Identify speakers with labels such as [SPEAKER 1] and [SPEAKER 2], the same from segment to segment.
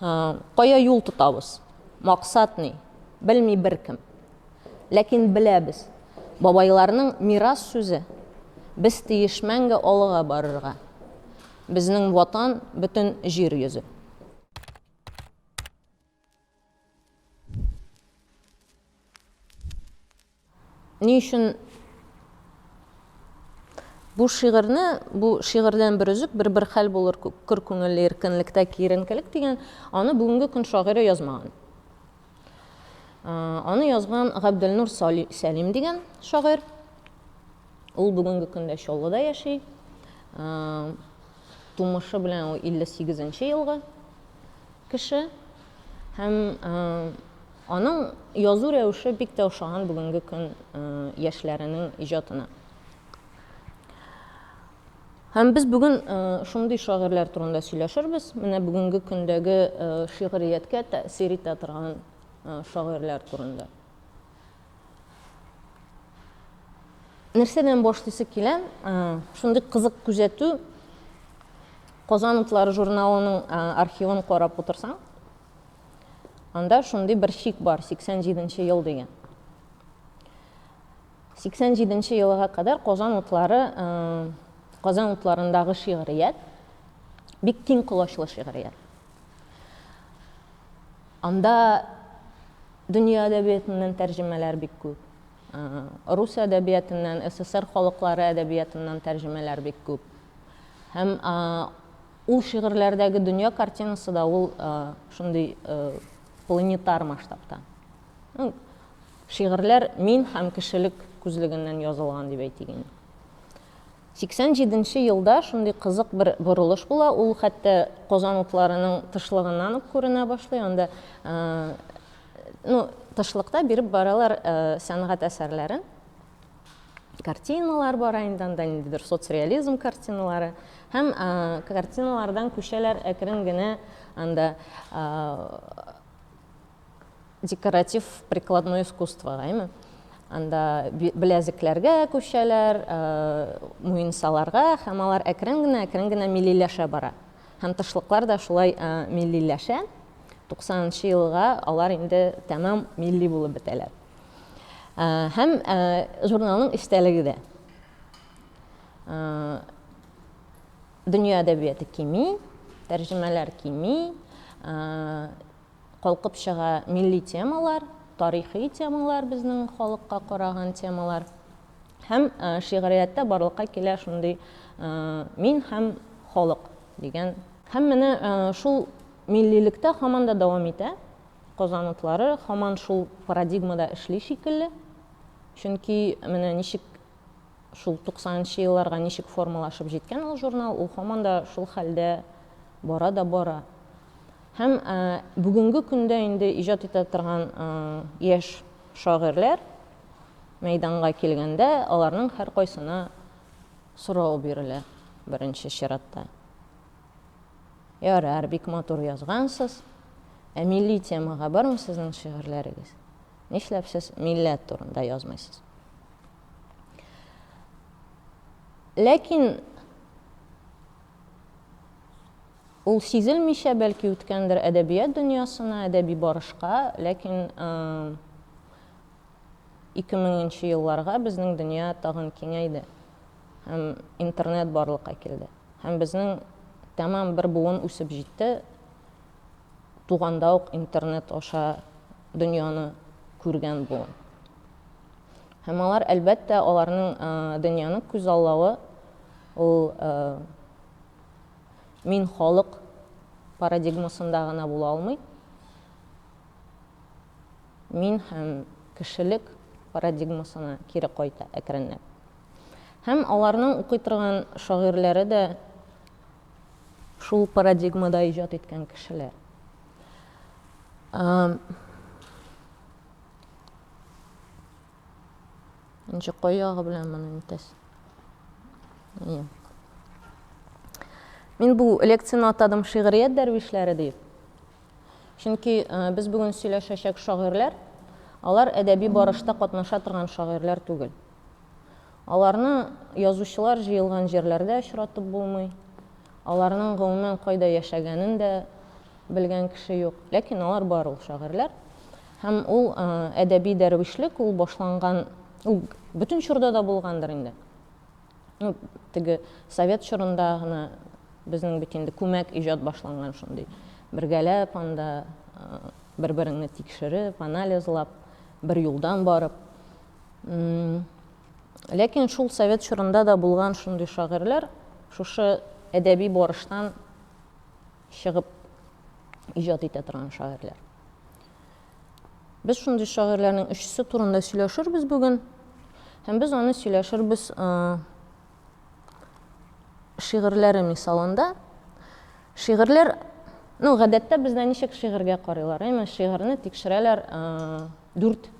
[SPEAKER 1] Кая юл тотабыз? Максат ни? Белми беркем. Ләкин беләбез. Бабайларның мирас сүзе. Без тиеш мәңге алыга барырга. Безнең Ватан, бөтен җир йөзе. Ни өчен бу шигырьне, бу шигырьдән бер өзек, бер бер хәл булыр көр күңелле иркенлектә киеренкелек дигән, аны бүгенге көн шагыйре язмаган. Аны язган Габделнур Сәлим дигән шагыйрь. Ул бүгенге көндә Чаллыда яши. Тумышы белән ул 58 нче елгы кеше. Һәм аның язу рәвеше бик тә ошаган бүгенге көн яшьләренең иҗатына. Һәм без бүген шундый шагыйрьләр турында сөйләшербез, менә бүгенге көндәге шигърияткә тәэсир итә торган шагыйрьләр турында. Нәрсәдән башлыйсы килә? Шундый кызык күзәтү. Казан утлары журналының архивын карап утырсаң, анда шундый бер шик бар, 87 ел дигән. 87 елга кадәр Казан утлары, Казан утларындагы шигърият бик киң колачлы шигърият. Анда Дөнья әдәбиятыннан тәрҗемәләр бик күп. Рус әдәбиятыннан, СССР халыклары әдәбиятыннан тәрҗемәләр бик күп. Һәм ул шигырьләрдәге дөнья картинасы да ул шундый планетар масштабта. Шигырьләр мин һәм кешелек күзлегеннән язылган дип әйтик инде. 87 нче елда шундый кызык бер борылыш була, ул хәтта Казан утларының тышлыгыннан ук күренә башлый, анда ну тышлыкта биреп баралар сәнгать әсәрләрен, картиналар бара инде анда, ниндидер соцреализм картиналары һәм картиналардан күчәләр әкрен генә анда Декоратив прикладной искусство гайме? Анда беләзекләргә күчәләр, муенсаларга, һәм алар әкрен генә, әкрен генә милиләшә бара. Һәм тышлыклар да шулай милиләшә. 90 елга алар инде тәмам милли булып бетәләр. Һәм журналның истәлеге дә. Дөнья әдәбияты кими, тәрҗемәләр кими. Калкып чыга милли темалар, тарихи темалар, безнең халыкка караган темалар. Һәм шигърияттә барлыкка килә шундый Мин һәм халык дигән. Һәм менә шул миллилектә һаман да дәвам итә. Казан утлары һаман шул парадигмада эшли шикелле. Чөнки менә ничек шул 90 нчы елларга ничек формалашып җиткән ул журнал, ул һаман да шул хәлдә бара да бара. Һәм бүгенге көндә инде иҗат итә торган яшь шагыйрьләр мәйданга килгәндә, аларның һәркайсына сорау бирелә, беренче чиратта. Ярар, бик матур язгансыз, ә милли темага бармы сезнең шигырьләрегез? Нишләп сез милләт турында язмыйсыз? Ләкин. Ул сизелмичә бәлки үткәндер әдәбият дөньясына, әдәби барышка, ләкин ике меңенче елларга безнең дөнья тагын киңәйде һәм интернет барлыкка килде. Һәм безнең тәмам бер буын үсеп җитте, туганда ук интернет аша дөньяны күргән буын. Һәм алар, әлбәттә, аларның дөньяны күзаллавы ул Мин халык парадигмасында гына була алмыйм, мин һәм кешелек парадигмасына кире кайта әкренләп. Һәм аларның укый торган шагыйрьләре дә шул парадигмада иҗат иткән кешеләр. Ничек кой ягы белән моны нитәс? Ие. Мин бу лекцияне атадым шигърият дәрвишләре дип. Чөнки э, без бүген сөйләшәчәк шагыйрьләр, алар әдәби барышта катнаша торган шагыйрьләр түгел. Аларны язучылар җыелган җирләрдә очратып булмый. Аларның гомумән кайда яшәгәнен дә белгән кеше юк, ләкин алар бар ул шагыйрьләр. Һәм ул әдәби дәрвишлек, ул башланган, ул бөтен чорда да булгандыр инде. Ну, теге совет чорында гына безнең бит инде күмәк иҗат башланган шундый. Бергәләп анда бер-береңне тикшереп, анализлап, бер юлдан барып. Ләкин шул совет чорында да булган шундый шагыйрьләр шушы әдәби барыштан чыгып иҗат итә торган шагыйрьләр. Без шундый шагыйрьләрнең өчесе турында сөйләшербез бүген. Һәм без аны сөйләшербез шигырьләре мисалында. Шигырьләр, ну, гадәттә бездә ничек шигырьгә карыйлар? Әйме, шигырьне тикшерәләр дүрт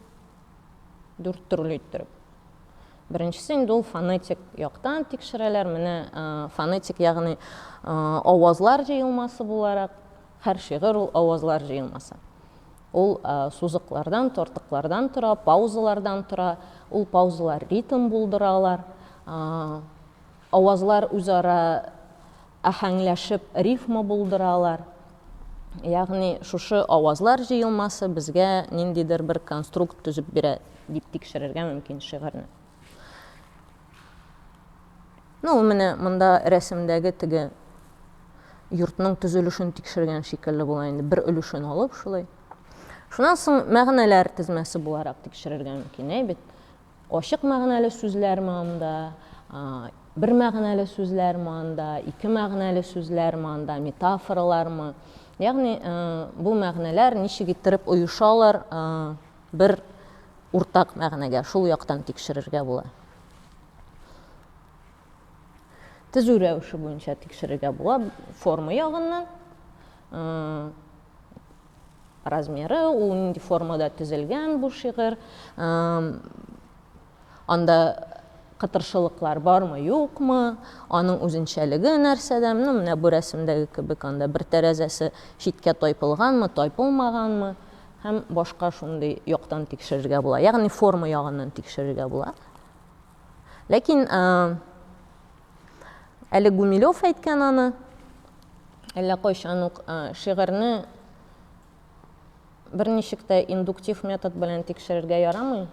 [SPEAKER 1] Дүрт төрле иттереп. Беренчесе инде ул фонетик яктан тикшерәләр. Менә фонетик, ягъни авазлар җыелмасы буларак, һәр шигырь ул авазлар җыелмасы. Ул сузыклардан, тортыклардан тора, паузалардан тора. Ул паузалар ритм булдыралар. Авазлар үзара аһәңләшеп рифма булдыралар. Ягъни шушы авазлар җыелмасы безгә ниндидер бер конструкт төзеп бирә, дип тикшерергә мөмкин шигырьне. Ну, ул менә монда рәсемдәге теге йортның төзелешен тикшергән шикелле була инде, бер өлешен алып шулай. Шуннан соң мәгънәләр тезмәсе буларак тикшерергә мөмкин, әй бит. Ачык мәгънәле сүзләрме анда, бер мәгънәле сүзләрме анда, ике мәгънәле сүзләрме анда, метафоралармы? Ягъни бу мәгънәләр ничек иттереп оешалар бер уртак мәгънәгә, шул яктан тикшерергә була. Тезү рәвеше буенча тикшерергә була форма ягыннан. Размеры, ул нинди формада төзелгән бу шигырь, анда кытыршылыклар бармы, юкмы, аның үзенчәлеге нәрсәдә, ну, менә бу рәсемдәге кебек анда бер тәрәзәсе читкә тайпылганмы, тайпылмаганмы, һәм башка шундый яктан тикшерергә була, ягъни форма ягыннан тикшерергә була. Ләкин әле Гумилев әйткән аны, әллә кайчан ук шигырьне берничек тә индуктив метод белән тикшерергә ярамый.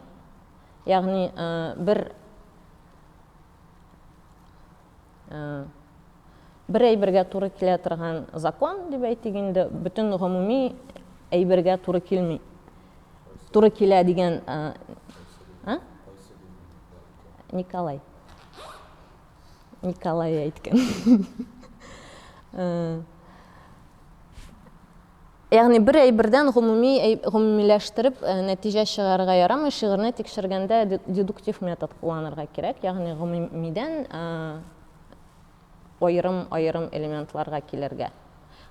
[SPEAKER 1] Ягъни бер Бер әйбергә туры килә торган закон, дип әйтик инде, бөтен гомуми әйбергә туры килми. Туры килә дигән Николай. Николай әйткән. Ягъни бер әйбердән гомуми гомумиләштереп нәтиҗә чыгарырга ярамый, шигырьне тикшергәндә дедуктив метод кулланырга кирәк, ягъни гомумидән аерым-аерым элементларга килергә.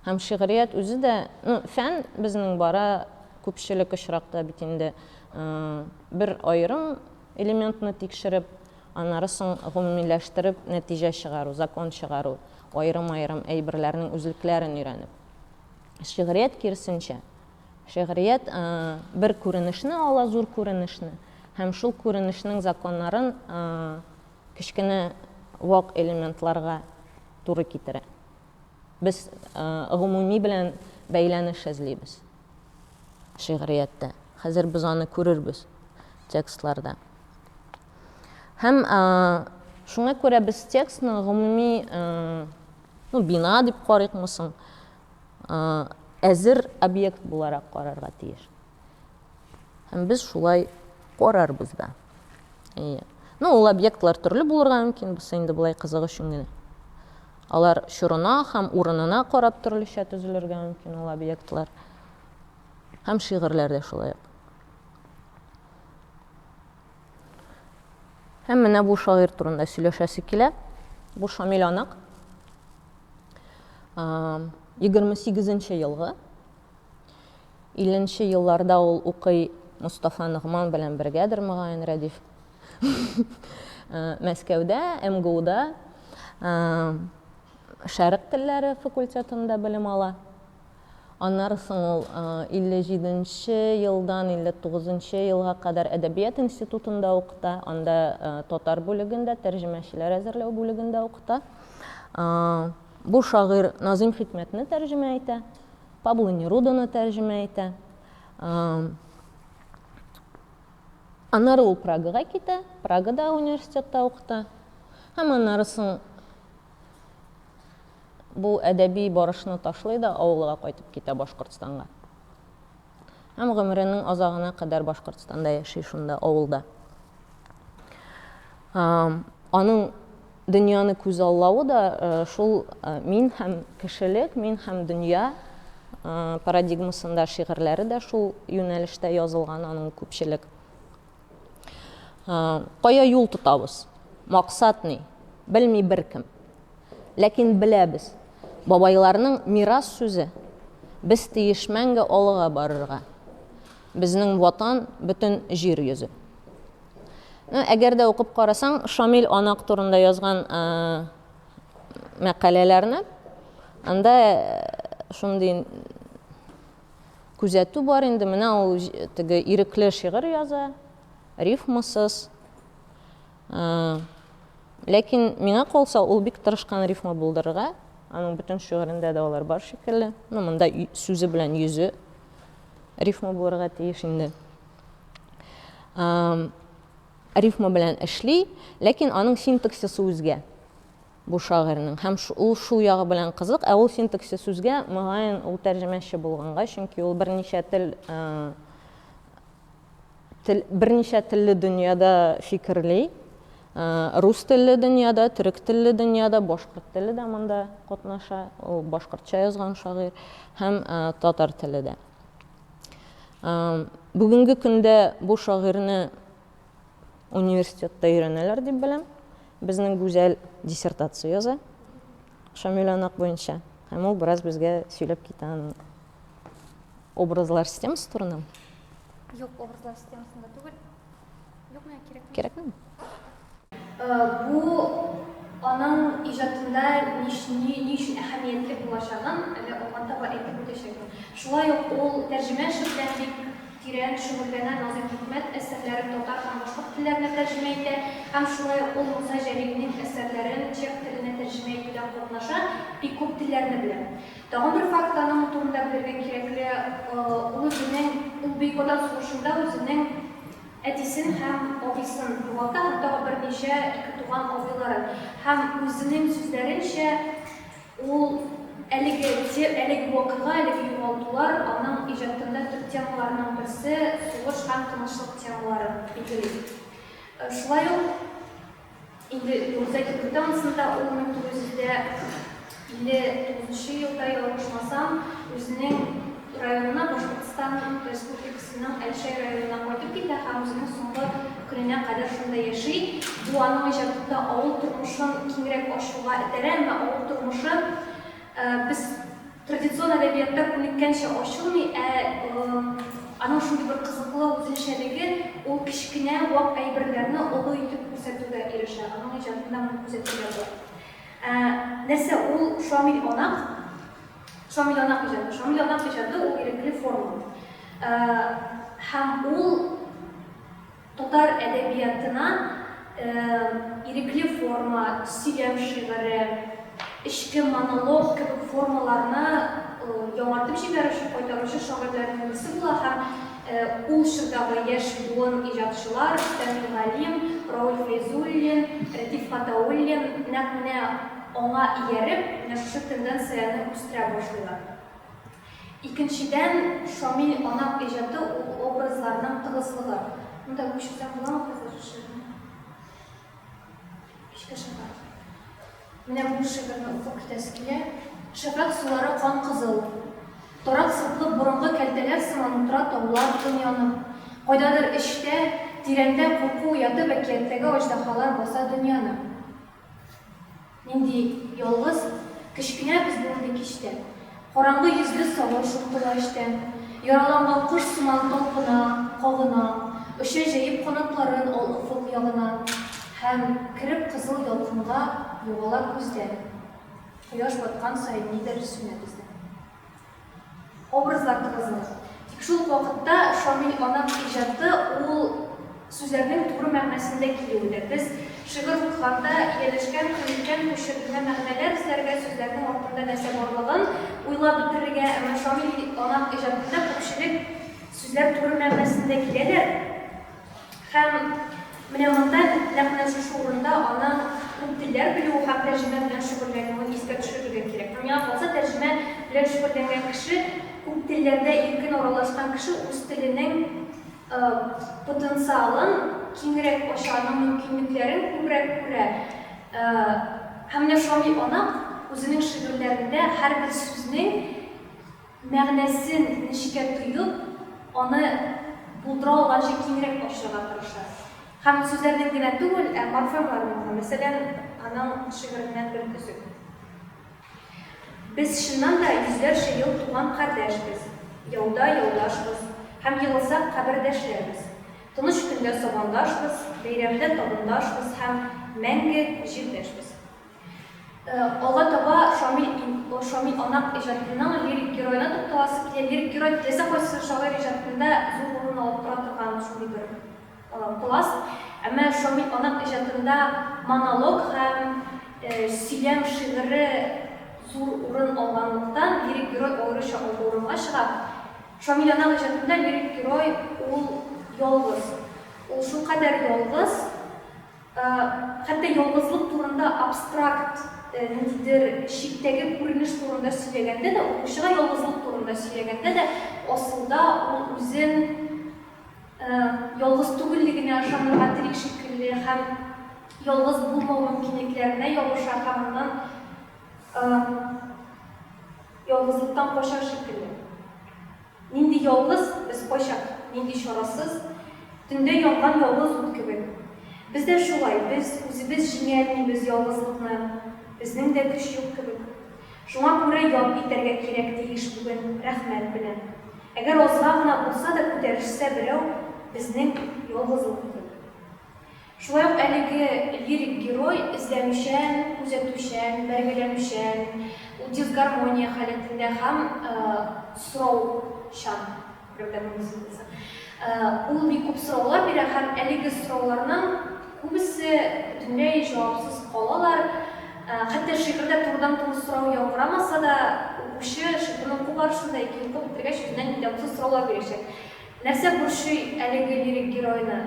[SPEAKER 1] Һәм шигърият үзе дә, ну, фән безнең бара күпчелек очракта бит инде бер аерым элементны тикшереп, аннары соң гомумиләштереп нәтиҗә чыгару, закон чыгару, аерым-аерым әйберләрнең үзлекләрен өйрәнеп. Шигърият кирсенчә. Шигърият э, бер күренешне ала, зур күренешне, һәм шул күренешнең законнарын э, кечкенә вак элементларга туры китерә. Без э, гомуми белән бәйләнеш эзлибез шигърияттә. Хәзер без аны күрербез текстларда. Һәм шуңа күрә без текстны гомуми Ну, бина дип карыйкмы соң? Әзер объект буларак карарга тиеш. Һәм без шулай карарбыз да. Әйе. Ну, ул объектлар төрле булырга мөмкин, бусы инде былай кызык өчен генә. Алар чорына һәм урынына карап төрлечә төзелергә мөмкин ул объектлар. Һәм шигырьләр дә шулай ук. Һәм менә бу шагыйрь турында сөйләшәсе килә. Бу Шамил Анык. 28 елгы. 50 елларда ул укый Мустафа Ногман белән бергәдер мөгаен Рәдиф. Мәскәүдә, МГУда Шәрык телләре факультетында белем ала. Аннары соң ул 57 нче елдан 59 нчы елга кадәр Әдәбият институтында укыта, анда татар бүлегендә, тәрҗемәчеләр әзерләү бүлегендә укыта. Бу шагыйрь Назыйм Хикмәтне тәрҗемә итә, Пабло Неруданы тәрҗемә итә. Аннары ул Прагага китә, Прагада университетта укыта. Һәм аннары соң бу әдәби барышны ташлый да авылга кайтып китә Башкортстанга. Һәм гомеренең азагына кадәр Башкортстанда яши шунда, авылда. Аның дөньяны күзаллавы да шул мин һәм кешелек, мин һәм дөнья парадигмасында шигырьләре дә шул юнәлештә язылган аның күпчелек. Кая юл тотабыз? Максат ни? Белми беркем. Ләкин беләбез. Бабайларның мирас сүзе. Без тиеш мәңге алга барырга. Безнең ватан бөтен җир йөзе. Әгәр дә укып карасаң, Шамил Анак турында язган мәкаләләрне, анда шундый Күзәтү бар инде, менә ул теге ирекле шигырь яза, рифмасыз. Ләкин миңа калса, ул бик тырышкан рифма булдырырга. Аның бөтен шигырендә дә алар бар шикелле. Ну, монда сүзе белән йөзе рифма булырга тиеш инде. Рифма белән эшли, ләкин аның синтаксисы үзгә. Бу шагыйрьнең һәм ул шул ягы белән кызык, ә ул синтаксис сүзгә, мөгаен, ул тәрҗемәче булганга, чөнки ул берничә тел, тел, берничә телле дөньяда фикерли, рус телле дөньяда, төрек телле дөньяда, башкорт теле дә монда катнаша, ул башкортча язган шагыйрь, һәм татар теле дә. Бүгенге көндә бу шагыйрьне университетта өйрәнәләр дип беләм. Безнең Гүзәл диссертация яза Шамил Анак буенча. Һәм ул бераз безгә сөйләп китә аның образлар системасы турында. Юк,
[SPEAKER 2] образлар системасында түгел. Юк, миңа кирәкми. Кирәкми?
[SPEAKER 1] Бу
[SPEAKER 2] аның иҗатында ни өчен әһәмиятле булачагын әле алдан таба әйтеп үтәчәкмен. Шулай ук ул тәрҗемә эше белән бик тирән шөгыльләнә, Назыйм Хикмәт әсәрләрен татар һәм башкорт телләренә тәрҗемә итә һәм шулай ук ул Муса Җәлилнең әсәрләрен чех теленә тәрҗемә итүдә катнаша, бик күп телләрне белә. Тагын бер факт аның турында белергә кирәкле, ул үзенең, ул Бөек Ватан сугышында үзенең Әтисен һәм абыйсын югалта һәм тагы берничә икетуган абыйларын. Һәм үзенең сүзләренчә, ул әлеге тем, әлеге вакыйга, әлеге югалтулар аның иҗатында төп темаларның берсе, сугыш һәм тынычлык темалары, билгели. Шулай ук. Инде Нурзәк Юлдансында ул 1959 елда ялгышмасам, үзенең районына Башкортстан Республикасының Әлшәй районына кайтып китә һәм үзенең соңгы көненә кадәр шунда яши. Бу аның иҗатында авыл тормышын киңрәк ачуга этәрә, әмма авыл тормышы без Традицион әдәбиятта күнеккәнчә ачылмый, ә аның шундый бер кызыклы үзенчәлеге, ул кечкенә вак әйберләрне олы итеп күрсәтүгә ирешә. Аның иҗатында моны күзәтүгә була. Ә, нәрсә ул Шамил Анак? Шамил Анак иҗаты. Шамил Анак иҗаты ул ирекле форма. Ә, һәм ул Татар әдәбиятына ирекле форма, сөйләм шигыре, эчке монолог кебек формаларны яңартып җибәрүче, кайтаручы шагыйрьләрнең берсе була һәм ул чордагы яшь буын иҗатчылар Фәнил Галим, Рауль Фәйзуллин, Рәтиф Хатауллин нәкъ менә аңа ияреп, менә шушы тенденцияне үстерә башлыйлар. Икенчедән, Шамил Анак иҗаты ул образларның тыгызлыгы. Монда күчерүдән буламы хәзер шигырьне? Кичке шәфәкъ. Менә бу шигырьне укып китәсе килә. Шәфәкъ сулары кан-кызыл. Торак сыплы борынгы кәлтәләр сыман утыра таулар тын янып. Кайдадыр эчтә, тирәндә курку уятып әкияттәге аҗдаһалар баса дөньяны. Нинди ялгыз, кечкенә безнең инде кич тә. Караңгы йөзле савым шомтыла эчтән. Яраланган кош сыман талпына, кагына, Оча җәеп канатларын ал офык ягына. Һәм, кереп кызыл ялкынга, югала күздән. Кояш баткан саен нидер сүнә бездән. Образлар тыгызлык. Тик шул ук вакытта Шамил аның иҗаты ул сүзләрнең туры мәгънәсендә килүедер. Без шигырь укыганда ияләшкән, күнеккән бу шигърине мәгънәләп эзләргә, сүзләрнең артында нәрсә барлыгын уйлап бетерергә, әмма Шамил аның иҗатында күпчелек сүзләр туры мәгънәсендә киләләр. Һәм менә монда нәкъ менә шушы урында аны күп телләр белүе һәм тәрҗемә белән шөгыльләнүен искә төшерергә кирәк. Һәм миңа калса, тәрҗемә белән шөгыльләнгән кеше, күп телләрдә иркен аралашкан кеше үз теленең потенциалын киңрәк ача, аның мөмкинлекләрен күбрәк күрә. Һәм менә шундый анык, үзенең шигырьләрендә һәрбер сүзнең мәгънәсен нечкә тоеп, аны булдыра алганча киңрәк ачарга тырыша. Һәм сүзләрдән генә түгел, ә морфемнардан да. Мәсәлән, аның шигыреннән бер өзек. Без чыннан да йөзләрчә ел туган кардәшбез, яуда яудашбыз, һәм егылсак кабердәшләрбез. Тыныч көндә сабандашбыз, бәйрәмдә табындашбыз һәм мәңге җирдәшбез. Алга таба Шамил Анак иҗатының лирик героена тукталасы килә. Лирик герой теләсә кайсы шагыйрь иҗатында зур урын алып тора торган шундый бер пласт. Әмма Шамил Анак иҗатында монолог һәм сөйләм шигыре зур урын алганлыктан, лирик герой аеруча алгы урынга чыга. Шамил Анак иҗатында лирик герой ул ялгыз. Ул шулкадәр ялгыз, Хәтта ялгызлык турында абстракт, ниндидер чиктәге күренеш турында сөйләгәндә дә, укучыга ялгызлык турында сөйләгәндә дә, асылда ул үзен ялгыз түгеллегенә ышанырга тели шикелле һәм ялгыз булмау мөмкинлекләренә ябыша һәм аннан ялгызлыктан кача шикелле. Нинди ялгыз без кайчак, нинди чарасыз, Төндә янган ялгыз ут кебек. Без дә шулай, без үзебез җиңә алмыйбыз ялгызлыкны, Безнең дә көч юк кебек. Шуңа күрә ял итәргә кирәк тиеш бүген рәхмәт белән. Әгәр азга гына булса да күтәрешсә берәү безнең ялгызлыкны. Шулай ук әлеге лирик герой эзләнүчән, күзәтүчән, бәргәләнүчән, дисгармония халәтендә һәм сораучан. Берәүдән мондый сүз булса. Ул бик күп сораулар бирә һәм әлеге сорауларның күбесе бөтенләй җавапсыз калалар. Хәтта шигырьдә турыдан-туры сорау яңгырамаса да, укучы шигырьне уку барышында ике юлка бетергәч үзеннән-үзе җавапсыз сораулар бирәчәк. Нәрсә борчый әлеге лирик геройны?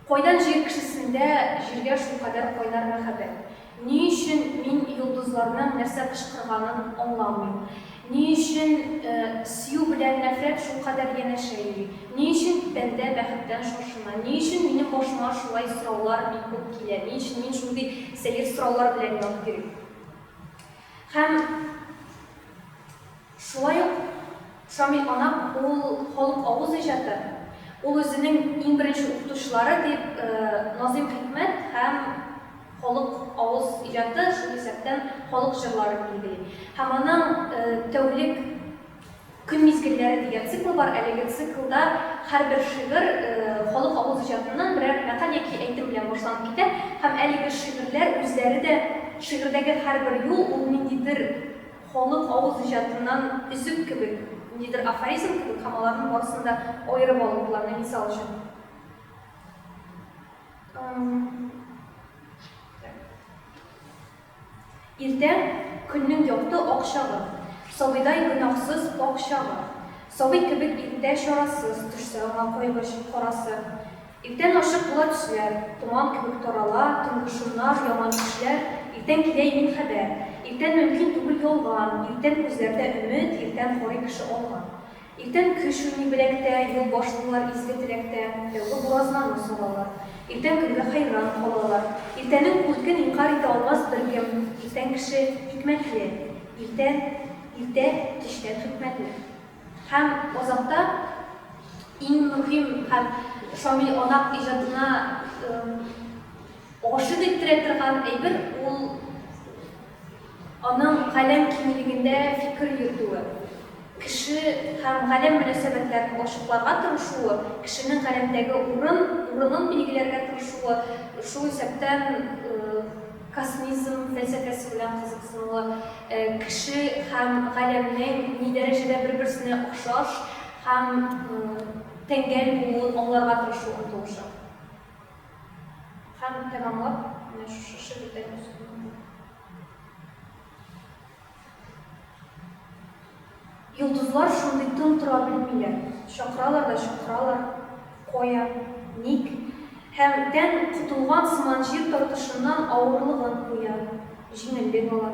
[SPEAKER 2] Кайдан җир кешесендә җиргә шулкадәр кайнар мәхәббәт? Ни өчен мин йолдызларның нәрсә кычкырганын аңламыйм? Ни өчен сөю белән нәфрәт шулкадәр янәшә йөри? Ни өчен бәндә бәхеттән шашына? Ни өчен минем башыма шулай сораулар бик күп килә? Ни өчен мин шундый сәер сораулар белән янып йөрим? Һәм. Шулай ук Шамил Анап ул халык авыз иҗаты, ул үзенең иң беренче укытучылары дип Назыйм Хикмәт һәм халык авыз иҗаты, шул исәптән халык җырларын билгели. Һәм аның Тәүлек көн мизгелләре дигән циклы бар, әлеге циклда һәрбер шигырь халык авыз иҗатыннан берәр мәкаль яки әйтем белән башланып китә һәм әлеге шигырьләр үзләре дә, шигырьдәге һәрбер юл ул ниндидер Халык авыз иҗатыннан өзек кебек, ниндидер афоризм кебек һәм аларның барысын да аерып алу планы, мисал өчен. Иртә, көннең якты ак чагы. Сабыйдай гөнаһсыз пакь чагы. Сабый кебек иртә чарасыз, Төшсә аңа кайгы карасы. Иртән ачык була төсләр, томан кебек тарала, төнге шомнар, яман төшләр, иртән килә имин хәбәр. Иртән мөмкин түгел ялган, иртән күзләрдә өмет, иртән карый кеше алга. Иртән көч уйный беләктә, юл башлыйлар изге теләктә, тәүге буразнаны салалар. Иртән көнгә хәйран калалар. Иртәнең күркен инкарь итә алмас беркем, иртән кеше икмәкле, иртән иртә кичтән хикмәтле. Һәм азакта иң мөһим һәм Шамил Анак иҗатына гашыйк иттерә торган әйбер ул аның галәм киңлегендә фикер йөртүе. Кеше һәм галәм мөнәсәбәтләрен ачыкларга тырышуы, кешенең галәмдәге урын, урынын билгеләргә тырышуы, шул исәптән Космизм фәлсәфәсе белән кызыксыну, кеше һәм галәмнең ни дәрәҗәдә бер-берсенә охшаш һәм тәңгәл булуын аңларга тырышу омтылышы. Һәм тәмамлап, менә шушы шигырьдән үсеп Йолдызлар шундый тын тора белмиләр, чакыралар да чакыралар, кая, ник? Һәм тән котылган сыман җир тартышыннан авырлыгын куя, җиңеллек ала.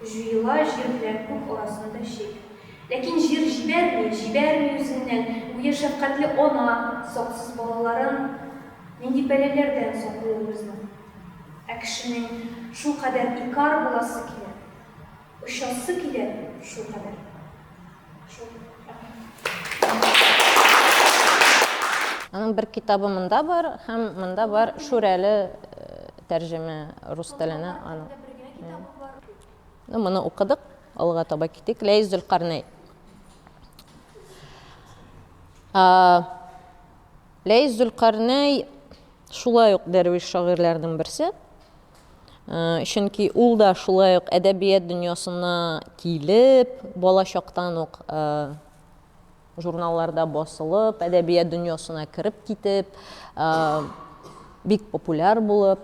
[SPEAKER 2] Җуела җир белән күк арасында чик. Ләкин җир җибәрми, җибәрми үзеннән, гүя шәфкатьле ана саксыз балаларын нинди пәләләрдән саклый ул безнең. Ә кешенең шулкадәр икар буласы килә, очасы килә шулкадәр.
[SPEAKER 1] Шул. Аның бер китабы монда бар һәм монда бар Шүрәле тәрҗемә рус теленә аның. Ну, моны укыдык, алга таба китик. Ләйс Зөлкарнәй. Ләис Зөлкарнәй шулай ук дәрвиш шагыйрьләрнең берсе. Чөнки ул да шулай ук әдәбият дөньясына килеп, бала чактан ук журналларда басылып, әдәбият дөньясына кереп китеп, бик популяр булып,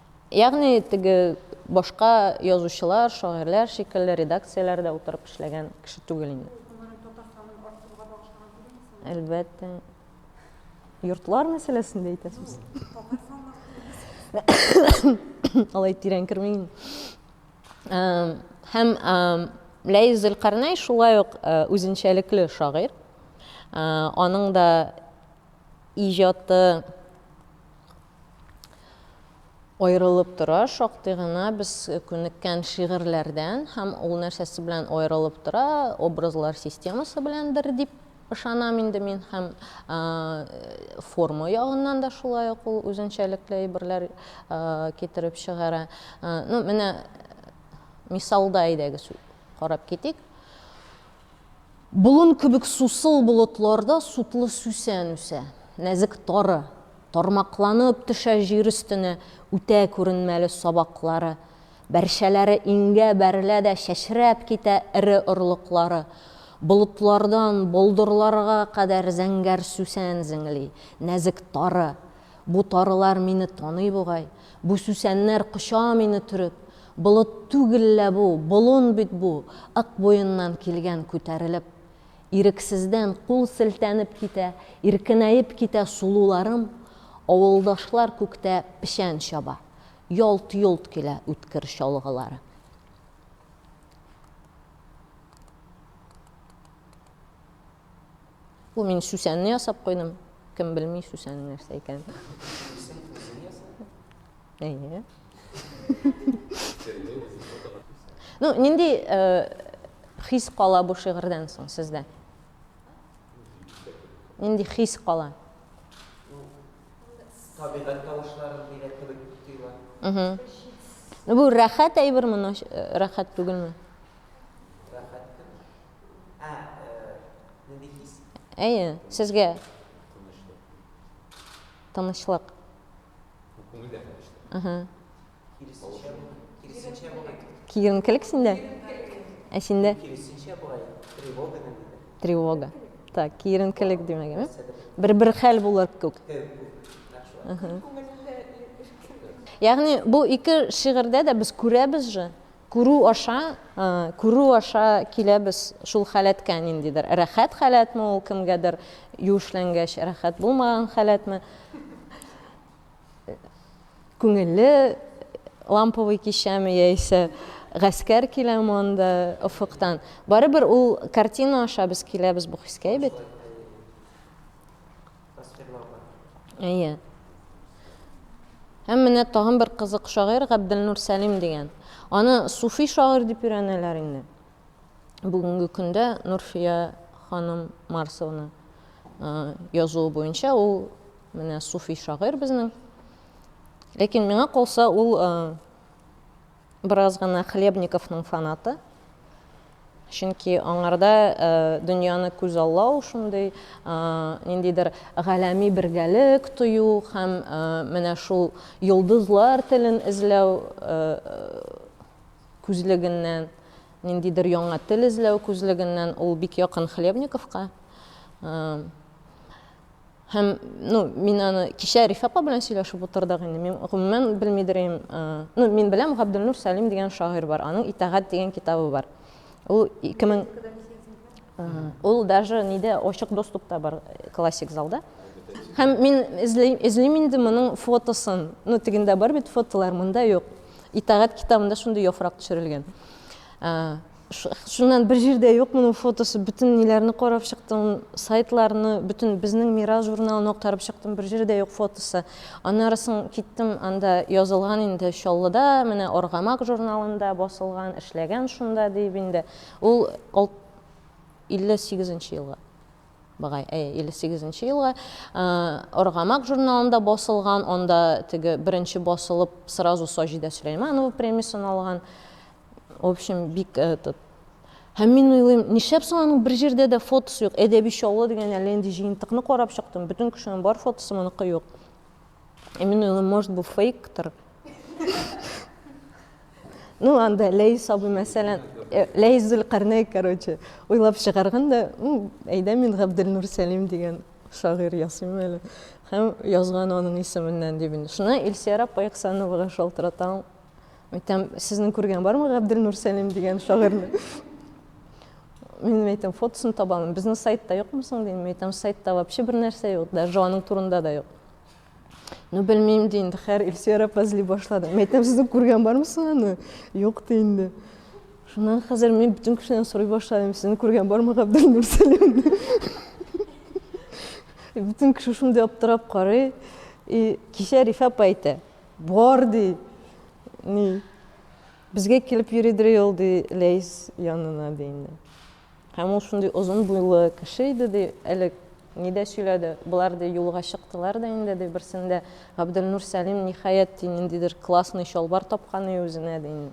[SPEAKER 1] Ягъни, теге башка язучылар, шагыйрьләр шикелле редакцияләрдә утырып эшләгән кеше түгел инде. Ул гомерен Татарстанның артсызга багышлаган түгел мисаллы? Әлбәттә. Йортлар мәсьәләсендә әйтәсез? Юк, татар санларсыз дисез. Алай тирән кермим. Һәм Ләис Зөлкарнәй шулай ук үзенчәлекле шагыйрь. Аның да иҗаты. аерылып тора, шактый гына без күнеккән шигырьләрдән һәм ул нәрсәсе белән аерылып тора, образлар системасы беләндер дип ышанам инде мин һәм форма ягыннан да шулай ук ул үзенчәлекле әйберләр китереп чыгара. Ну, менә мисалда әйдәгез карап китик. Болын кебек сусыл болытларда сутлы сүсән үсә. Нәзек тары, тармакланып төшә җир өстенә үтә күренмәле сабаклары. Бәрчәләре иңгә бәрелә дә чәчрәп китә эре орлыклары. Болытлардан болдырларга кадәр зәңгәр сүсән зеңли. Нәзек тары. Бу тарылар мине таный бугай, Бу сүсәннәр коча мине төреп. Болыт түгел лә бу, болын бит бу, Ык буеннан килгән күтәрелеп. Ирексездән кул селтәнеп китә, Иркенәеп китә сулуларым. Авылдашлар күктә печән чаба, Ялт-йолт килә үткер чалгылары. Бу мин Сүсәнне ясап куйдым. Кем белми Сүсәнне нәрсә икән. Әйе. Ну, нинди э, хис кала бу шигырьдән соң сездә? Нинди хис кала?
[SPEAKER 3] Табигать тавышлары дигән кебек тоела. Угу. Ну, бу
[SPEAKER 1] рәхәт әйберме, э, рәхәт түгелме?
[SPEAKER 3] Ә, э, нинди хис? Әйе, сезгә.
[SPEAKER 1] Тынычлык. Тынычлык. Ну, күңел дә тынычлык. Угу. Киресенчә,
[SPEAKER 3] киресенчә була. Киеренкелек синдә?
[SPEAKER 1] Ә синдә? Киресенчә
[SPEAKER 3] була. Тревога да нидә? Тревога.
[SPEAKER 1] Так, киеренкелек димәк, ә? Бер-бер хәл булыр күк. Угу. Ягъни бу ике шигырьдә дә без күрәбез же, Күрү аша, күрү аша киләбез шул халәткә, ниндидер рәхәт халәтме ул кемгәдер юешләнгәч, рәхәт булмаган халәтме, күңелле ламповый кичәме яисә гаскәр киләме анда офыктан. Барыбер ул картина аша без киләбез бу хискә бит. Тасвирлауга. Әйе. Һәм менә тагын бер кызык шагыйрь Габделнур Сәлим дигән. Аны суфи шагыйрь дип өйрәнәләр инде. Бүгенге көндә Нурфия ханым Марсовна язуы буенча ул менә суфи шагыйрь безнең. Ләкин миңа калса ул Бераз гына Хлебниковның фанаты. Чөнки аңарда дөньяны күзаллау, шундый ниндидер галәми бергәлек тою һәм менә шул йолдызлар телен эзләү күзлегеннән, ниндидер яңа тел эзләү күзлегеннән ул бик якын Хлебниковка. Һәм, ну, мин аны кичә Риф апа белән сөйләшеп утырдык инде. Мин гомумән белмидер идем. Ну, мин беләм, Габделнур Сәлим дигән шагыйрь бар. Аның Итагать дигән китабы бар. Ул 2000 Ул даже нидә ачык доступта бар классик залда. Һәм мин эзлим, эзлим инде моның фотосын. Ну, тегендә бар бит фотолар, монда юк. Итагать китабында шундый яфрак төшерелгән. Шуннан бер җирдә юк моның фотосы, бөтен ниләрне карап чыктым, сайтларны, бөтен безнең Мира журналын актарып чыктым, бер җирдә юк фотосы. Аннары соң киттем, анда язылган инде Чаллыда, менә Аргамак журналында басылган, эшләгән шунда, диеп инде. Ул 58 нче елга багай, әйе, 58 нче елга Аргамак журналында басылган, анда теге беренче басылып сразу Саҗидә Сөләйманова премиясен алган. В общем, бик этот Һәм мин уйлыйм, нишләп соң аның бер җирдә дә фотосы юк? Әдәби Чаллы дигән әллә нинди җыентыкны карап чыктым, бөтен кешенең бар фотосы, моныкы юк. И мин уйлыйм, может, бу фейктыр. Ну, анда Ләйс абый, мәсәлән, э, Ләйс Зөлкарнәй, короче, уйлап чыгарган да, әйдә мин Габделнур Сәлим дигән шагыйрь ясыйм әле. Һәм язган аның исеменнән дип инде. Шуны Илсияр апа Ихсановага шалтыратам. Әйтәм, сезнең күргән бармы Габделнур Сәлим дигән шагыйрьне? Мин әйтәм, фотосын табамын. Безнең сайтта юкмы соң дим. Әйтәм, сайтта вообще бер нәрсә юк, даже аның турында да юк. Ну, белмим ди инде, хәр Илсөяр апа эзли башлады. Мин әйтәм, сезнең күргән бармы соң аны? Юк ди инде. Шуннан хәзер мин бөтен кешедән сорый башладым, сезнең күргән бармы Габделнур Сәлимне? Бөтен кеше шундый аптырап карый. И кичә Рифа апа әйтә, Бар, ди. Ни, безгә килеп йөридер ул, ди, Ләйс янына, ди инде. Һәм ул шундый озын буйлы кеше иде, ди, әле ни дә сөйләде. Болар, ди, юлга чыктылар да инде, ди, берсендә Габделнур Сәлим, ниһаять, ди, ниндидер классный чалбар тапкан и үзенә, ди, инде.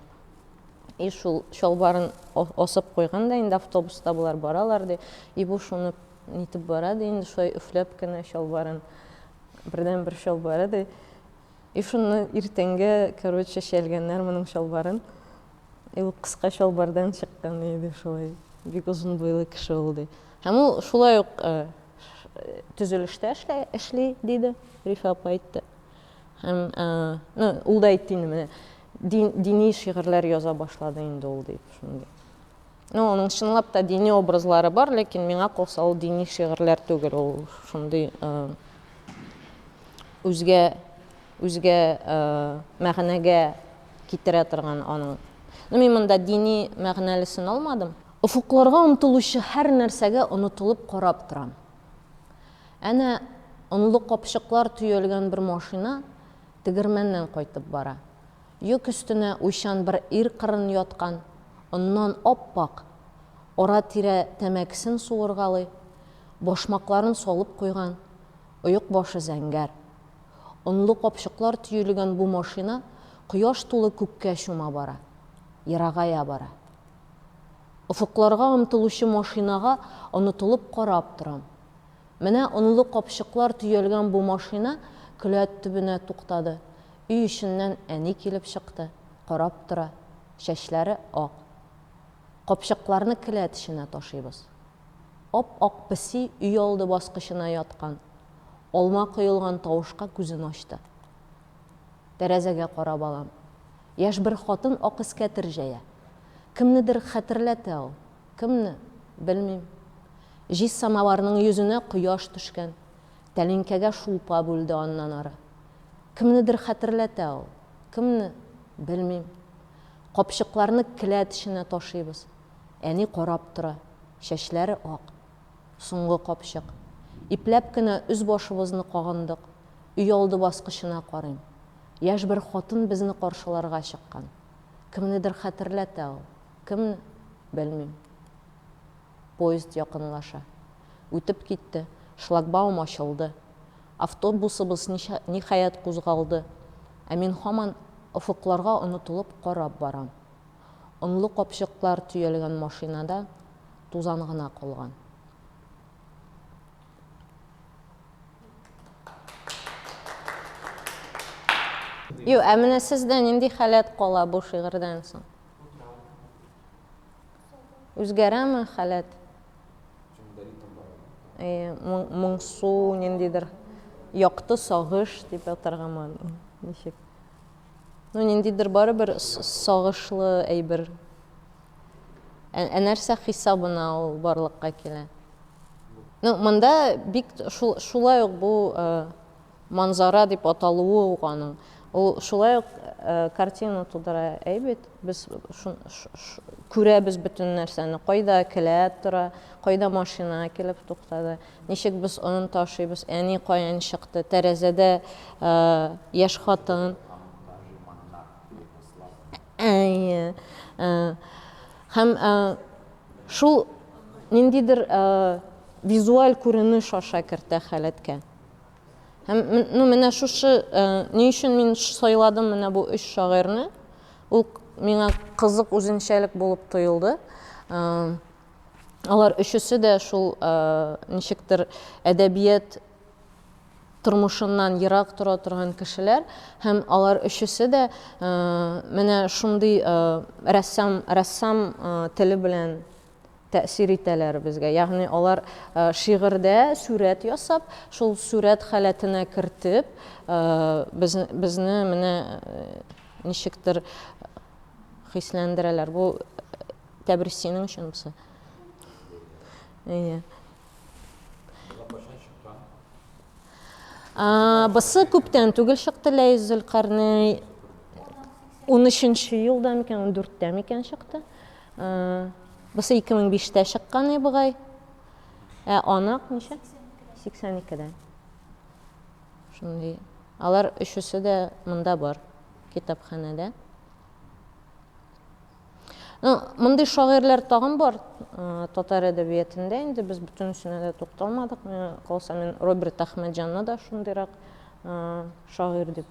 [SPEAKER 1] И шул чалбарын асып куйган да инде, автобуста болар баралар, ди, и бу шуны нитеп бара, ди, инде шулай өфләп кенә чалбарын, бердәнбер чалбары, ди, И шунны иртәнгә, короче, чәлгәннәр моның чалбарын. И ул кыска чалбардан чыккан, и ди шулай. Бик озын буйлы кеше ул, ди. Һәм ул шулай ук төзелештә эшли, диде, Рифә апа әйтте. Һәм, ну, ул да әйтте инде, менә дини шигырьләр яза башлады инде ул, дип, шундый. Ну, аның чынлап та дини образлары бар, ләкин миңа калса ул дини шигырьләр түгел, ул шундый э, үзгә үзгә э, мәгънәгә китерә торган аның. Ну, мин монда дини мәгънәлесен алмадым. Офыкларга омтылучы һәр нәрсәгә онытылып карап торам. Әнә онлы капчыклар төялгән бер машина тегермәннән кайтып бара. Йөк өстенә уйчан бер ир кырын яткан, оннан ап-ак, ара-тирә тәмәкесен суыргалый, башмакларын салып куйган, оек башы зәңгәр. Онлы капчыклар төелгән бу машина кояш тулы күккә чума бара. Ерагая бара. Офыкларга омтылучы машинага онытылып карап торам. Менә онлы капчыклар төялгән бу машина келәт төбенә туктады, Өй эченнән әни килеп чыкты, карап тора, чәчләре ак. Капчыкларны келәт эченә ташыйбыз. Ап-ак песи өйалды баскычына яткан, алма коелган тавышка күзен ачты. Тәрәзәгә карап алам. Яшь бер хатын ак эскәтер җәя. Кемнедер хәтерләтә ул. Кемне, белмим. Җиз самоварның йөзенә кояш төшкән, тәлинкәгә шулпа бүлде аннан ары. Кемнедер хәтерләтә ул. Кемне? Белмим. Капчыкларны келәт эченә ташыйбыз. Әни карап тора. Чәчләре ак. Соңгы капчык. Ипләп кенә өс-башыбызны кагындык. Өйалды баскычына карыйм. Яшь бер хатын безне каршыларга чыккан. Кемнедер хәтерләтә ул. Кемне? Белмим. Поезд якынлаша. Үтеп китте. Шлагбаум ачылды. Автобусыбыз, ниһаять, кузгалды. Ә мин һаман офыкларга онытылып карап барам. Онлы капчыклар төялгән машинада тузан гына калган. Юк, ә менә сездә нинди халәт кала бу шигырьдән соң? Үзгәрәме халәт? Әйе, моңсу, ниндидер якты сагыш дип атаргамы, ничек? Ну, ниндидер барыбер сагышлы әйбер. Ә нәрсә хисабына ул барлыкка килә? Ну, монда бик шулай ук бу Манзара дип аталуы ук аның, ул шулай ук картина тудыра әйбит, без күрәбез бөтен нәрсәне, кайда келәт тора, кайда машина килеп туктады, ничек без он ташыйбыз, әни каян чыкты, тәрәзәдә яшь хатын, әйе, һәм шул ниндидер визуаль күренеш аша кертә халәткә. Һәм ну менә шушы э, ни өчен мин сайладым менә бу өч шагыйрьне? Ул миңа кызык үзенчәлек булып тоелды. Э, алар өчесе дә шул э, ничектер әдәбият тормышыннан ерак тора торган кешеләр һәм алар өчесе дә менә шундый рәссам рәссам теле белән тәэсир итәләр безгә. Ягъни алар шигырьдә сүрәт ясап, шул сүрәт халәтенә кертеп, без, безне менә ничектер хисләндерәләр. Бу тәбрис синең өчен булса. Әйе. Алар кайчан чыккан? Бысы күптән түгел чыкты, Ләйс Зөлкарнәй. Унөченче елда микән, ундүрттә микән чыкты. Бусы 2005-тә чыккан и бугай. Ә анык ничә? 82-дә. Шундый. Алар өчесе дә монда бар, китапханәдә. Ну, мондый шагыйрьләр тагын бар татар әдәбиятында, инде без бөтенесенә дә тукталмадык. Миңа калса, мин Роберт Әхмәтҗанны да шундыйрак шагыйрь дип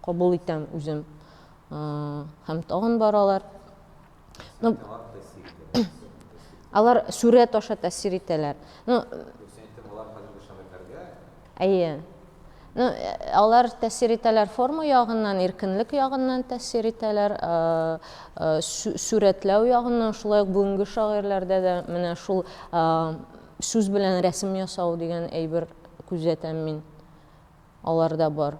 [SPEAKER 1] кабул итәм үзем. Һәм тагын баралар. Ну, алар сүрәт аша тәсир итәләр. Ну, Әйе. Ну, алар тәсир итәләр форма ягыннан, иркенлек ягыннан тәсир итәләр, сүрәтләү ягыннан, шулай ук бүгенге шагыйрьләрдә дә менә шул сүз белән рәсем ясау дигән әйбер күзәтәм мин. Аларда бар.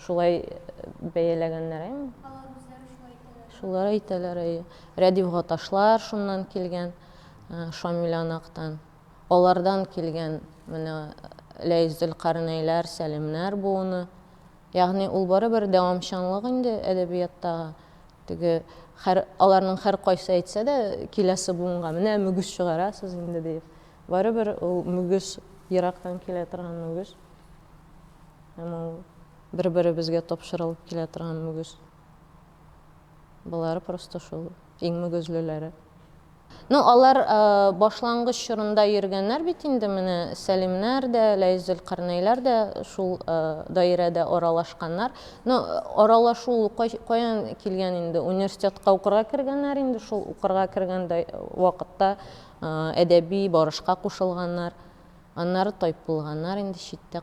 [SPEAKER 1] Шулай бәяләгәннәр, әйме? Алар үзләре шулай әйтәләр. Шулар әйтәләр, әйе. Рәдифга ташлар шуннан килгән, Шамилянактан. Алардан килгән менә Ләйс Зөлкарнәйләр, Сәлимнәр буыны. Ягъни ул барыбер дәвамчанлык инде әдәбияттагы. Теге хәр, аларның һәркайсы әйтсә дә, киләсе буынга, менә мөгез чыгарасыз инде, диеп. Барыбер ул мөгез, ерактан килә торган мөгез. Һәм ул бер-беребезгә тапшырылып килә торган мөгез. Болары просто шул иң мөгезлеләре. Ну, алар башлангыч чорында йөргәннәр бит инде, менә Сәлимнәр дә, Ләйс Зөлкарнәйләр дә шул даирәдә аралашканнар. Ну, аралашу ул каян килгән инде, университетка укырга кергәннәр инде, шул укырга кергән вакытта әдәби барышка кушылганнар. Аннары тайпылганнар инде читтә,